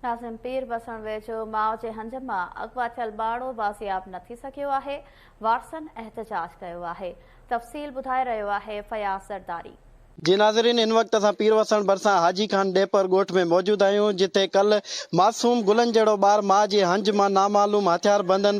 ناظم پير وسڻ ويجهو ماء جي هنج مان اغوا ٿيل ٻارڙو بازياب نه ٿي سگهيو آهي، وارثن احتجاج ڪيو آهي. تفصيل ٻڌائي رهيو آهي فياض زرداري. جي ناظرين ان وقت اسان پير وسڻ ڀرسان حاجي خان ڏيپر ڳوٺ ۾ موجود آهيون جتي ڪلهه معصوم گلن جهڙو ٻار ماء جي هنج مان نامعلوم هٿياربندن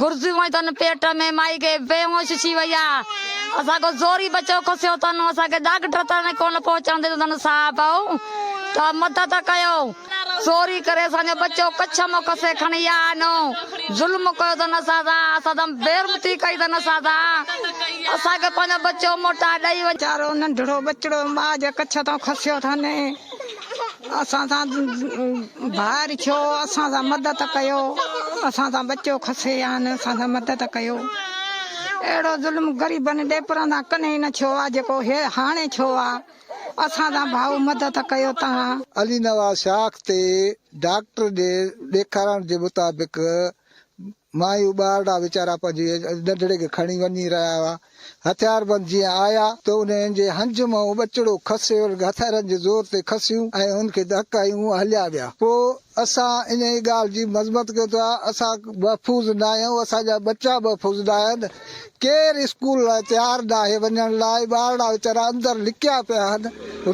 گرزيون ۽ تن پيٽ ۾ مائي کي بي هوش ٿي وئي آ اسان ڪو زوري بچو کسيو تن اسان کي ڊاڪٽر تائين ڪونه پهچڻ ڏنو تن صاحب او ته مدد ڪيو زوري ڪري اسان جو بچو ڪڇ مون کسي کڻي آ نو ظلم ڪيو تن اسان سان اسان تم بيرمتي ڪئي تن اسان سان اسان کي پنهنجو بچو موٽا ڏئي وڃ. ويچارو ننڍڙو ٻچڙو ماء جي ڪڇ تان کسيو ٿن. اسان سان ڀائر ڇو اسان سان مدد ڪيو اسان سان بچو کسي آن اسان سان مدد ڪيو اهڙو ظلم غريبن ڏيپران سان ڪنهي نه ڇو آ جيڪو هي هاڻي ڇو آ اسان سان ڀائو مدد ڪيو تهان. علي نواز شاخ تي ڊاڪٽر ڏي ڏيکارڻ جي مطابق مايون ٻارڙا ويچارا پنهنجي ننڍڙي کي کڻي وڃي رهيا هئا. هٿياربند جيئن آيا ته انهن جي هنج منهن ٻچڙو کسيل هٿيارن جي زور تي کسيون ۽ هن کي ڌڪ هنيون ۽ هليا ويا. پوء اسان انهيء ڳالهه جي مذمت ڪيون ته اسان محفوظ ناهيون، اسان جا ٻچا محفوظ ناهن. ڪير اسڪول لاء تيار ناهي وڃڻ لاء ٻارڙا ويچارا اندر لڪيا پيا آهن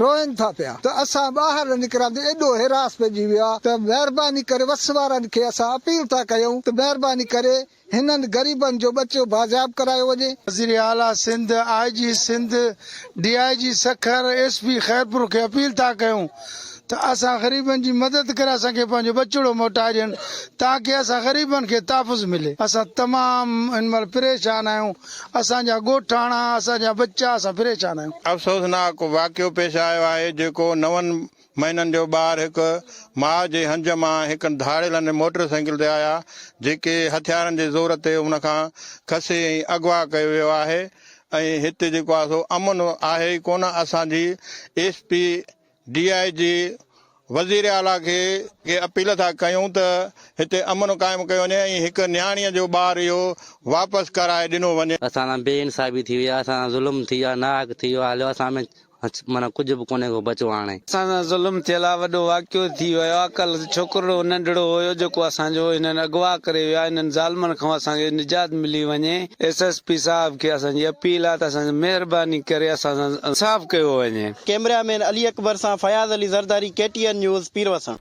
روئن ٿا پيا ته اسان ٻاهر نه نڪرندي ايڏو حراس پئجي ويو آهي ته مهرباني ڪري وس وارن کي اسان اپيل ٿا ڪيون ته مهرباني ڪري هنن غريبن جو ٻچو بازياب ڪرايو وڃي. وزير اعليٰ Sindh, I G Sindh, D I G Sukkur, S P Khairpur کي اپيل ٿا ڪيون ته اسان غريبن جي مدد ڪري اسان کي پنهنجو ٻچڙو موٽائي ڏين تاڪه اسان غريبن کي تحفظ ملي. اسان تمام هن مهل پريشان آهيون، اسان جا ڳوٺاڻا، اسان جا ٻچا، اسان پريشان آهيون. افسوسناڪ واقعو پيش آيو آهي جيڪو نون مهينن جو ٻار هڪ ماء جي هنج مان هڪ ڌاڙيلن موٽر سائيڪل تي آيا جيڪي هٿيارن جي زور تي ان کان کسي ۽ اغوا ڪيو ويو آهي ۽ هتي جيڪو آهي سو امن آهي ئي ڪونه اسان جي S P D I G وزير اعليٰ کي اهي اپيل ٿا ڪيون ته هتي امن قائم ڪيو وڃي ۽ هڪ نياڻيء جو ٻار اهو واپس ڪرائي ڏنو وڃي. اسان سان بي انصافي ٿي وئي آهي اسان سان ظلم ٿي ويو آهي ناحق ٿي ويو آهي هليو اسان ۾ معنيٰ ڪجهه به ڪونهي ڪو بچو هاڻي. اسان سان ظلم ٿيل آ وڏو واقعو ٿي ويو آ ڪل ڇوڪرڙو ننڍڙو هيو جيڪو اسان جو هنن اغوا ڪري ويا هنن ظالمن کان اسان کي نجات ملي وڃي ايس ايس پي صاحب کي اسان جي اپيل آ ته اسان سان مهرباني ڪري اسان سان انصاف ڪيو وڃي. ڪيمرا مين علي اڪبر سان Fayaz Ali Zardari K T N news پيروسڻ.